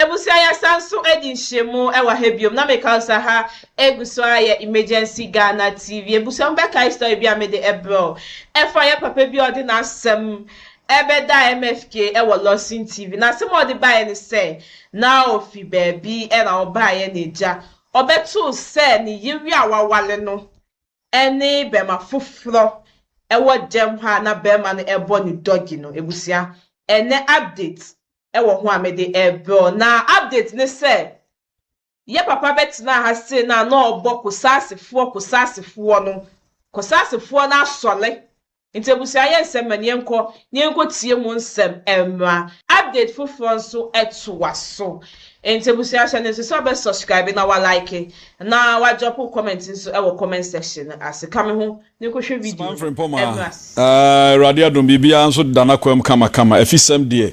Abusua yɛasan so adi nhyiamu wɔ ha biom na me kaw sɛ ha egu so ara yɛ Emergency Ghana TV. Abusua mo bɛkae story bi a me de ɛbrɛ wo. Ɛfa yɛ papa bi a ɔde n'asɛm ɛbɛda MFK wɔ Lawson TV. N'asɛm a ɔde baeɛ ne sɛ na ofi baabi ɛna ɔbaeɛ na agya ɔbɛtoo sɛ ne yere a wawale no ɛne bɛma foforɔ ɛwɔ gyɛm hɔ a na bɛma no ɛbɔ ne dɔgi no. Abusua ɛnɛ update wɔ ho a mede rebrɛ wo na update ne sɛ yɛ papa bɛtenaa ha se na na ɔbɔ Kosasefoɔ Kosasefoɔ no Kosasefoɔ no asɔre nti abusua yɛ nsɛm mɛne yɛnkɔ na yɛnkɔ tie mu nsɛm mmra update foforɔ nso toa so nti abusua hyɛ ne nso sɛ ɔbɛ subscribe na wa like na wa drop comment nso wɔ comment section no ase ka me ho Suban Frimpong a Awurade adom biribiara nso da n'akwam kamakama. Afisɛm deɛ,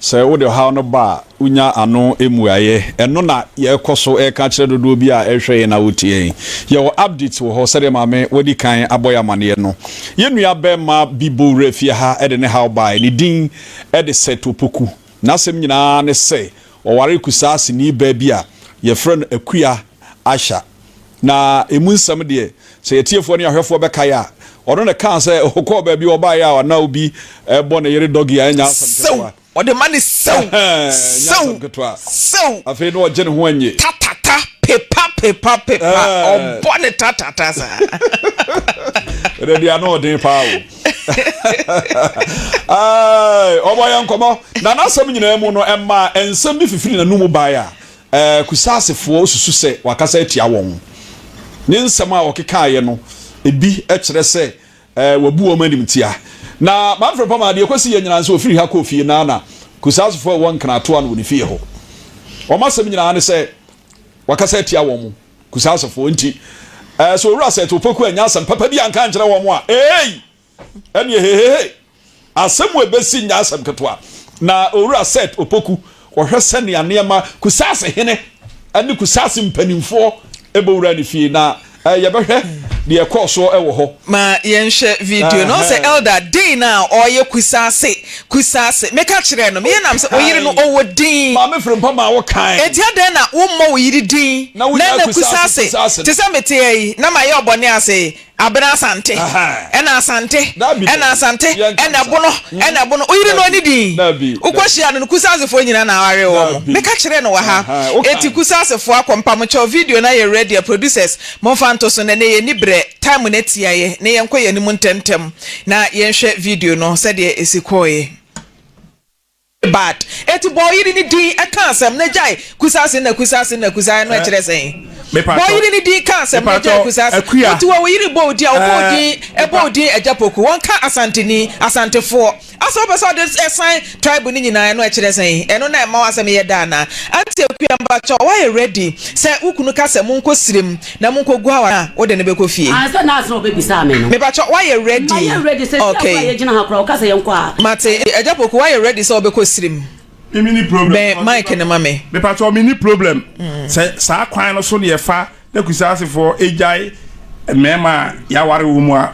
sɛ wode ɔhaw no ba a, wonya ano mmuaeɛ. Ɛno na yɛkɔ so reka akyerɛ dodoɔ bi a ɛrehwɛ yɛn na wɔtie yɛn. Yɛwɔ updates wɔ hɔ sɛdeɛ Maame wadi kan abɔ yɛn amaneɛ no. Yɛn nuabɛrima bi bɔ wuraa fie ha de ne haw baeɛ. Ne din de Seth Opoku. N'asɛm nyinaa ne sɛ ɔwaree Kusaase-ni baa bi a wɔfrɛ no Akua Asher. Na emu nsɛm deɛ, sɛ atiefoɔ ne ahwɛfoɔ bɛkae a, ɔno na ɛkaa sɛ ɔkɔɔ baabi a ɔbaeɛ a na obi rebɔ ne yere dɔge a ɛnyɛ asɛm Sɛw! ketewa. Ɔde ma ne sɛw! Ɛnyɛ Sɛw! asɛm ketewa. Sɛw! Afei na ɔgye ne ho nnye. Tatata, pepa, pepa, pepa, Ɛɛ. ɔbɔ ne tatata saa. Ɛnɛ deɛ ano ɔden paa o. Aai, ɔbɔ yɛn nkɔmmɔ, na n'asɛm nyinaa mu no, ɛmaa nsɛm bi fifiri n'anom bae a, Kusasefoɔ susu sɛ wakasa atia wɔn. Ne nsɛm a ɔkekaeɛ no, ebi kyerɛ sɛ wabu wɔn animtia. Na Manfred Pomar deɛ, kɔsi yɛn nyinaa nso, ɔfiri ha kɔɔ fie no ara na Kusasefoɔ a wɔwɔ Nkratoa no wɔ ne fie hɔ. Wɔn asɛm nyinaa ne sɛ wakasa atia wɔn, Kusasefoɔ. Enti sɛ Owura Seth Opoku annya asɛm papa bi anka ankyerɛ wɔn a, eei! ɛneɛ hehehe asɛm wei bɛsi nyɛ asɛm ketewa na owura Seth Opoku ɔhwɛ sɛnea nneɛma Kusase hene ne Kusase mpanimfoɔ ɛbɛwura ne fie na yɛbɛhwɛ deɛ ɛkɔɔ soɔ ɛwɔ hɔ. Ma yɛnhwɛ video no ɔsɛ Elder dei no a ɔyɛ Kusase Kusase meka kyerɛɛ no meyɛ nam sɛ oyere no ɔwɔ din Maame Frimpong maa wo kan. Enti adɛn na wommɔ wo yere din na ɛnɛ Kusase te sɛ meteɛ yi na mayɛ ɔbɔne ase yi. Abena Asante ɛna Asante ɛna Asante ɛna ɛbono ɛna ɛbono woyere no ɔne din wokɔ hyia no no Kusasefoɔ nyina na awaree wɔn meka kyerɛɛ no wɔ ha eti Kusasefoɔ akɔ mpa mo kyɛw video no ayɛ ready a producers momfa nto so nɛnɛ yɛ ni berɛ time no atia yɛ ne yɛ nkɔ yɛ anim ntɛmntɛm na yɛnhwɛ video no sɛdeɛ ɛsi kɔɔɛ. Bad. Enti bɔ ɔyere no din ka asɛm na gyae kusase na kusase na kusae no ɛkyerɛ sɛn? Bɔ ɔyere no din ka asɛm na gyae kusase. Enti wɔ wo yere bɔ wo din a wɔbɔ wo din ɛbɔ wo din Agyapoko wɔnka Asanteni, Asantefoɔ. Asɛ wopɛ sɛ ɔde ɛsan tribe no nyinaa ɛno ɛkyerɛ sɛn? Ɛno na ɛma w'asɛm yɛ dɛ anaa? Auntie Akua mpakyɛw woayɛ ready sɛ wo kunu ka sɛ monkɔ sirem Na mo nkɔ gu aware a wo de no bɛkɔ fie. Aah sɛ nurse na ɔbɛbisaa me no. Mepakyɛw woayɛ ready? Mayɛ ready sɛ sia koraa yɛ gyina ha koraa ɔka sɛ yɛn kɔ a. Mate agya poku woayɛ ready sɛ wobɛkɔ srim? Me menni problem. Bɛn mic no ma me. Mepakyɛw menni problem sɛ saa kwan no so na yɛfa na kusaase foɔ ɛgyae mmarima a yɛaware wɔn mu a.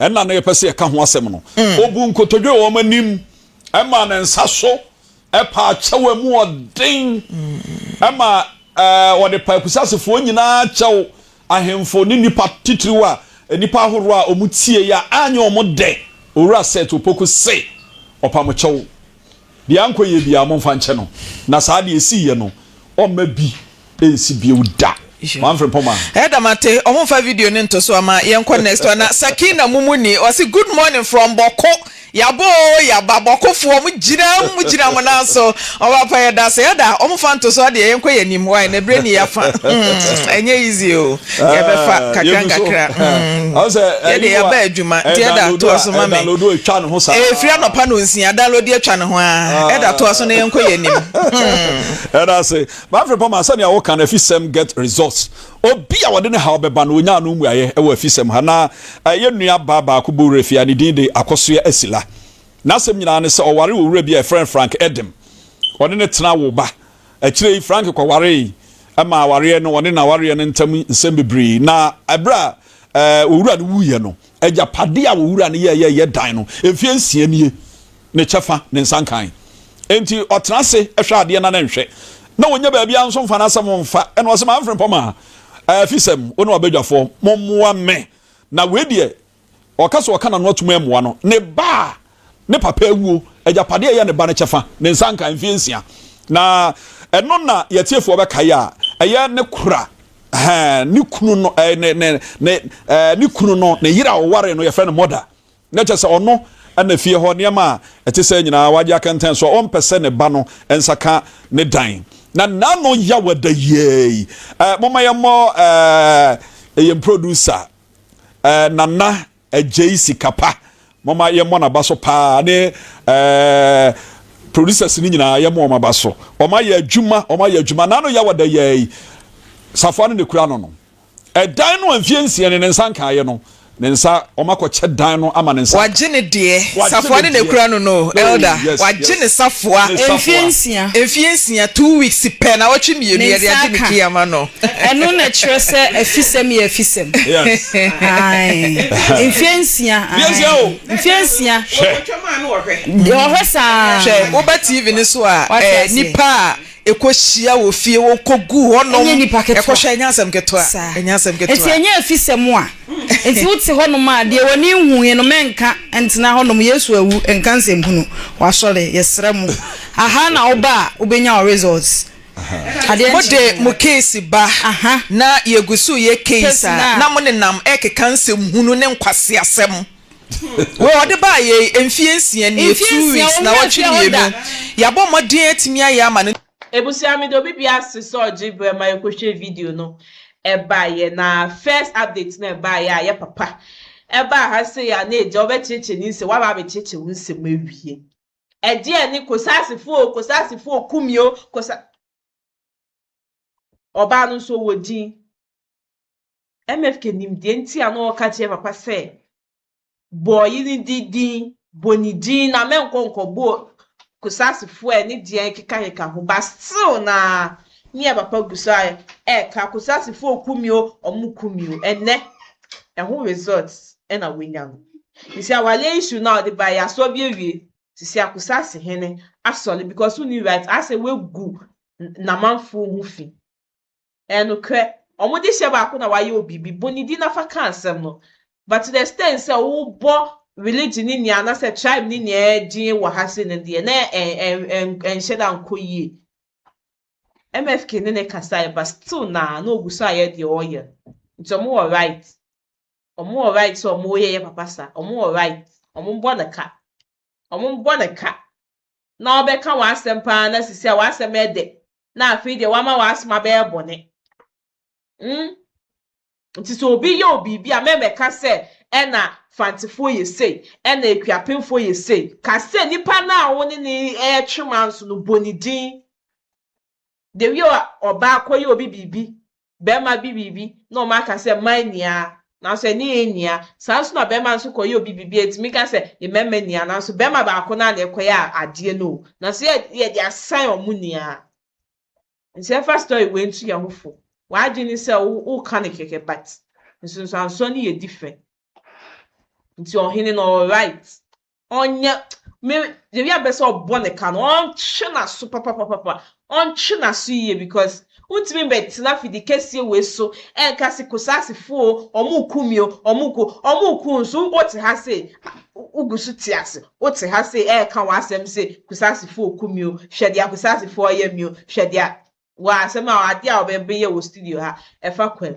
Ɛna no yɛpɛ sɛ yɛka ho asɛm no, ɔbu nkotodwe wɔ wɔn anim ma ne nsa so paa kyɛw a mu ɔden ma wɔde paa akusasefoɔ nyinaa kyɛw, ahemfo ne nnipa titiriw a nnipa ahorow a wɔtie a anyɛ wɔn dɛ. Owura Seth Opoku se, Ɔpamo kyɛw. Deɛ ankɔ yie biara, momfa nkyɛ no, na saa deɛ ɛsiiɛ no, ɔmma bi nsi bio da. One Frimpongman. Ɛda mate ɔmo nfa video no nto so ama yɛnkɔ next one na Sakina mumu nie ɔse good morning from bɔko yaba oo yaba bɔkofoɔ mo gyinam mo gyina mo nan so ɔba pa yɛdase ada ɔmo fa nto so adeɛ yɛnkɔ yɛnim wai na ɛberɛ ni yɛafa hmm ɛnyɛ easy oo. yɛbɛfa ah, kakra nkakra mm. yɛde eh, yɛba adwuma eh, nti ɛda toa so ma me ɛfiri eh, anɔpa no nsia download atwa ne ho a ah. ɛda toa so na yɛnkɔ yɛ anim hmm. ɛda ase bafere pama sɛnea woka no afisɛm get results obi a wɔde ne haw bɛba no ɔnya no mmuaeɛ ɛwɔ afisɛm ha na ɛyɛ nua baa baako bɔ werɛ fie a ne din de akɔsoɛ asila n'asɛm nyinaa ne sɛ ɔware wɔ wura bi a ɛfrɛ frank edem ɔne ne tena wo ba Akyire yi Frank kɔwaree ma awareɛ no ɔne n'awareɛ no ntam nsɛm bebree na berɛ a ɔwura no wuiɛ no agyapadeɛ a ɔwura no yɛɛyɛ yɛ dan no mfeɛ nsia nie ne kyɛfa ne nsa nkae enti ɔtena ase hwɛ adeɛ na ne nhwɛ na ɔnya baabi a nso mfa n'asɛm mfa ɛna ɔsɛ ma mfrempɔ ma afisɛm wo ne ɔbadwafoɔ mommoa me na wei deɛ Ɔka sɛ ɔka n'ano atom ammoa no, ne ba a ne papa awuo, agyapadeɛ a ɛyɛ ne ba no kyɛfa, ne nsa nka, mfeɛ nsia. Na ɛno na yɛ atiefoɔ bɛkae a ɛyɛ ne kora, ɛhɛ, ne kunu no, ɛɛ, ne, ne, ne, ɛɛ, ne kunu no, ne yere a ɔwaree no, yɛfrɛ no mother. Na kyerɛ sɛ ɔno na fie hɔ nneɛma a ɛte sɛ nyinaa wagye akɛntɛn so a ɔmpɛ sɛ ne ba no nsa ka ne dan. Na n'ano yaw ada yiaa yi. Ɛɛ, momma yɛmmɔ, ɛɛ, yɛn producer Ɛɛ Nana Agyei Sikapa moma yɛmmɔ n'aba so paa ne ɛɛ producers no nyinaa yɛmmɔ wɔn aba so wɔn ayɛ adwuma wɔn ayɛ adwuma n'ano yɛ wɔ da yɛ yi safoa no na ekura no no ɛdan no a mfie nsia ne ne nsa nkaeɛ no ne nsa wɔn akɔkyɛ dan no ama ne nsa wagye ne deɛ safoa no na ekura no no oh, elder wagye ne safoa mfie nsia mfie nsia two weeks pɛ na wɔtwe mmienu yɛde agye ne key ama no. Ɛno na ɛkyerɛ sɛ afisɛm yɛ afisɛm. Yes. Ae. Mfeɛ nsia. Mfeɛ nsia o. Mfeɛ nsia. Hwɛ. Ɔhwɛ saa. Hwɛ woba TV no so a ɛɛ nipa a ɛkɔ hyia wɔ fie wɔ kɔ gu hɔ nom. Ɛnyɛ nipa ketewa. Ɛkɔ hwɛ ɛnyɛ asɛm ketewa. Saa. Ɛnyɛ asɛm ketewa. Nti ɛnyɛ afisɛm a. Nti wo te hɔ nom a deɛ w'ani nhuuɛ no mɛ nka ntena hɔ nom Yesu awu nka nsɛmhunu. Wasɔre. Yɛsrɛ mo. Aha na wo ba a wo bɛnya wo results. Mode mo keesi ba na yegu so yɛ keesi a na mo nenam rekeka nsɛm hunu ne nkwaseasɛm. Wei ɔde baa yei mfeɛ nsia nie, two weeks, nnawɔtwe mmienu. Yɛabɔ mmɔden atumi ayɛ ama no. Ebusua mede obi bi ase sɛ ɔgye berɛ ma yɛkɔhwɛ video no ɛbaeɛ na first update no ɛbaeɛ a yɛ papa ɛbaa ha sei a na agya wobɛkyekyɛ ne nsɛm waba abɛkyekyɛ wo nsɛm awie. Ɛdeɛn ne Kosasefo o, Kosasefo o, Kumi o, Kosa. Ɔbaa no nso ɔwɔ din. MFK nim deɛ nti a na ɔka kyerɛ papa sɛ bɔɔyi no di din, bɔ ne din na mɛnkɔ nkɔbɔ Kosasefo a ɛne deɛ kekakeka ho ba still na ne yɛ papa gu so a ɛka Kosasefo o, Kumi o, ɔmo Kumi o. Ɛnɛ, ɛho results ɛna wanya no. Ntsi awale issue no a ɔde bae yi asɔw bi ewie sisi akusase hene asɔle because wonni right asɛ wegu namanfoɔ ho fi ɛyɛ nokorɛ ɔmo de hyɛ baako na wayɛ wo biribi bɔ ne din na fa ka asɛm no but to the extent sɛ wo bɔ religion ne nea anasɛ tribe ne nea din wɔ ha sei no deɛ na ɛnhyɛ da nkɔ yie MFK ne ne kasaeɛ but still naa na ɔgu so ayɛ deɛ ɔreyɛ no nti ɔmo wɔ right. Ɔmo wɔ right sɛ ɔmo yɛyɛ papa sa. Ɔmo wɔ right. Ɔmo bɔ no ka. Ɔmo bɔ no ka na ɔbɛka w'asɛm paa na sisi a w'asɛm ɛdɛ na afei deɛ wama w'asom abɛyɛ bɔne. Mm. Nti sɛ obi yɛ wo biribi a mɛmɛka sɛ ɛna Fantefoɔ yɛ sei, ɛna Akuapemfoɔ yɛ sei. Ka sɛ nipa no a wo ne no ɛɛtwe manso no bɔ ne din. Dewiɛ ɔbaa kɔyɛ obi biribi bɛrima bi biribi na wɔn aka sɛ mmaa nni ara nanso ɛne yɛn nni ara, saa nso na bɛrima nso kɔyɛ obi biribi a yɛtumi ka sɛ yɛn mmarima nni ara nanso bɛrima baako no ara na ɛkɔyɛ adeɛ no o, nanso yɛ yɛde asan wɔn nni ara. Nso yɛmfa story wei nto yɛn ho fo. W'adwene ne sɛ wo woka no kɛkɛ but nsunsuansoɔ no yɛ different. Nti ɔhene no ɔwɔ right ɔnyɛ me yɛbi abɛ sɛ ɔbɔ ne ka no ɔntwe n'aso papapapapa ɔntwe n'aso yie because wontumi mbɛtena fidi kɛseɛ wei so ɛnka se kosaasefo o ɔmo ku mi o ɔmo ku ɔmo ku nso wote ha se wogu so te ase wote ha se ɛɛka w'asɛm se kosaasefo ku mi o hwɛ deɛ kosaasefo ɔyɛ mi o hwɛ deɛ wɔ asɛm a ade a wɔbɛyɛ wɔ studio ha ɛfa kwam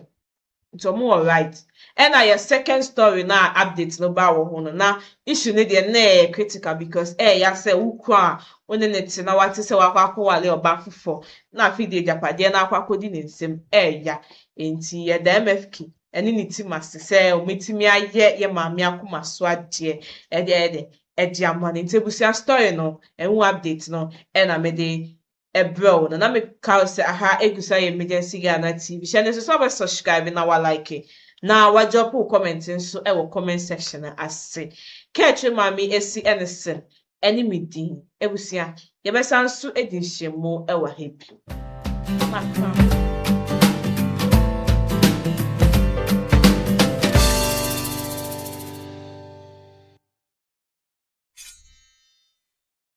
nti wɔn wɔ right ɛna yɛ second story no a update no baa wɔ ho no na issue no deɛ na ɛyɛ critical because ɛɛya sɛ wo kunu a wo ne ne te na wate sɛ wakɔ akɔwale ɔbaa foforɔ na afei deɛ agyapadeɛ no akɔ akɔdi ne nsam ɛɛya nti yɛda MFK ɛne ne team ase sɛ wɔatumi ayɛ yɛ maame akoma so adeɛ ɛde ɛde ɛde ama no nti abusua story no ɛho update no ɛna mede ɛbrɛw na na me ka sɛ aha egu so ayɛ emergency Ghana TV hyɛ no nso sɛ ɔbɛ subscribe na wa like na wa drop wo comment nso wɔ comment section no ase ka akyire maame esi ne sen ɛne me din abusua yɛbɛ san nso edi nhyiamu ɛwɔ ha bio.